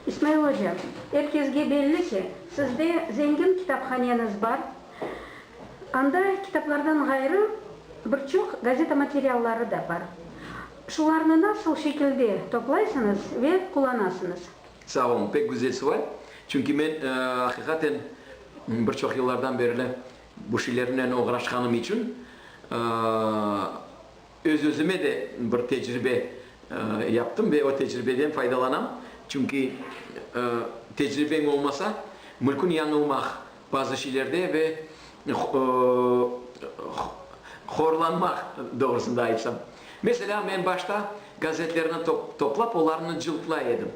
İsmail oca, er kesge belli ki, sizde zengin kitaphaneñiz bar, anda kitaplardan ğayrı bir çoq gazeta materialları da bar. Şularnı nasıl şekilde toplaysıñız ve qullanasıñız? Sağ olun, pek güzel suval. Çünki men, aqiqaten, bir çoq yıllardan berli bu şeylernen oğraşqanım içün, Öz-özüme de bir tecribe yaptım ve o tecribeden faydalanam. Çünki tecribeñ olmasa, mülkün yañılmaq bazı şeylerde ve horlanmaq, doğrusında aytsam. Meselâ, men başta gazetlerni toplap, olarnı cıltlay edim.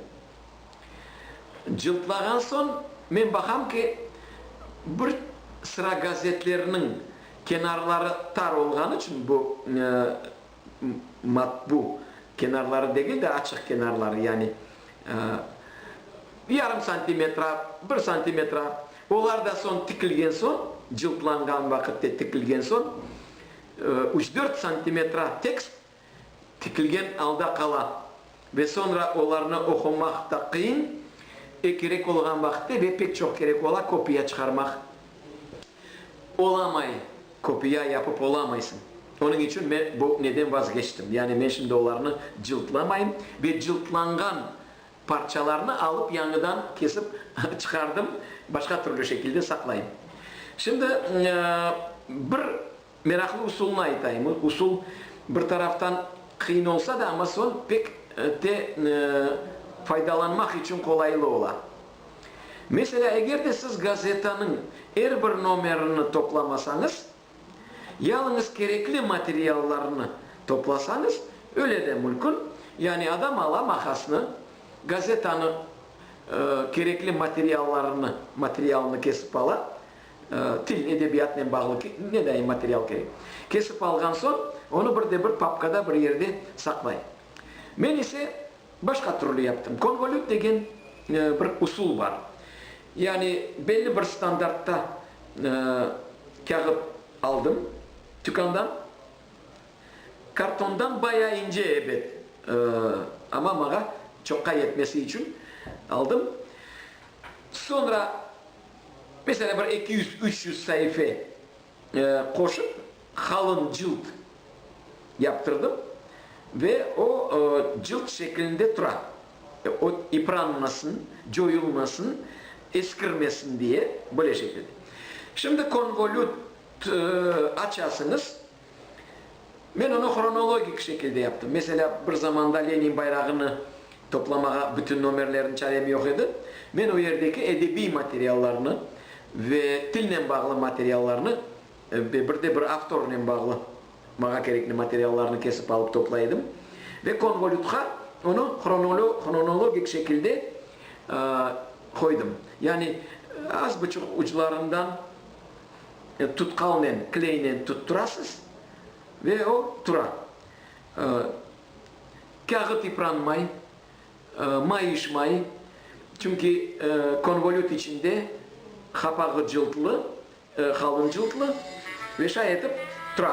Cıltlağan soñ, men baqam ki, bir sıra gazetlerniñ kenarları tar olğanı içün, bu, matbu kenarları degil de, açıq kenarları, yani, yarım santimetre, bir santimetre, olar da soñ tikilgen soñ, cıltlanğan vaqıtte tikilgen soñ, üç-dört santimetre tekst tikilgen alda qala ve soñra olarnı oqumaq da qıyın, e kerek olğan vaqıtta ve pek çoq kerek ola kopiya çıqarmaq olamay, kopiya yapıp olamaysıñ. Onıñ içün men bu neden vazgeçtim, yani men şimdi olarnı cıltlamayım ve cıltlanğan parçalarnı alıp yañıdan kesip çıqardım, başqa türlü şekilde saqlayım. Şimdi bir Meraqlı usulını aytayım. O usul bir taraftan qıyın olsa da, amma soñ pek te faydalanmaq içün qolaylı ola. Meselâ, eger de siz gazetanıñ er bir nomerini toplamasañız, yalıñız kerekli materiallarnı toplasañız, öyle de mülkün, yani adam ala maqasnı, gazetanıñ kerekli materiallarını, materialını kesip ala, Til, edebiyatnen bağlı ne daim material kerek. Kesip alğan soñ, onı bir de bir papkada bir yerde saqlay. Men ise başqa türlü yaptım. Konvolüt degen bir usul bar. Yani belli bir standartta kâğıt aldım tükândan. Kartondan bayağı ince ebet, amma maña çoqqa yetmesi içün aldım. Soñra Mesela, bir eki yüz, üç yüz saife qoşıp, qalın cılt yaptırdım ve o cılt şeklinde tura. O ipranmasın, coyulmasın, eskirmesin diye böyle şekilde. Şimdi konvolüt açasıñız. Men onı hronologik şekilde yaptım. Meselâ, bir zamanda Lenin bayrağını toplamağa bütün nomerlerni çarem yoq edi. Men o yerdeki edebiy materiallarnı ve tilnen bağlı materiallarnı ve bir de bir avtornen bağlı mağa kerekli materiallarnı kesip alıp toplay edim. Ve konvolütqa onı hronologik şekilde qoydım. Yani az buçuq uclarından. Tutqalnen, kleynen tutturasız ve o tura. Kâğıt yıpranmay, mayışmay, çünki konvolüt içinde qapağı cıltlı, qalın cıltlı ve şay etip tura.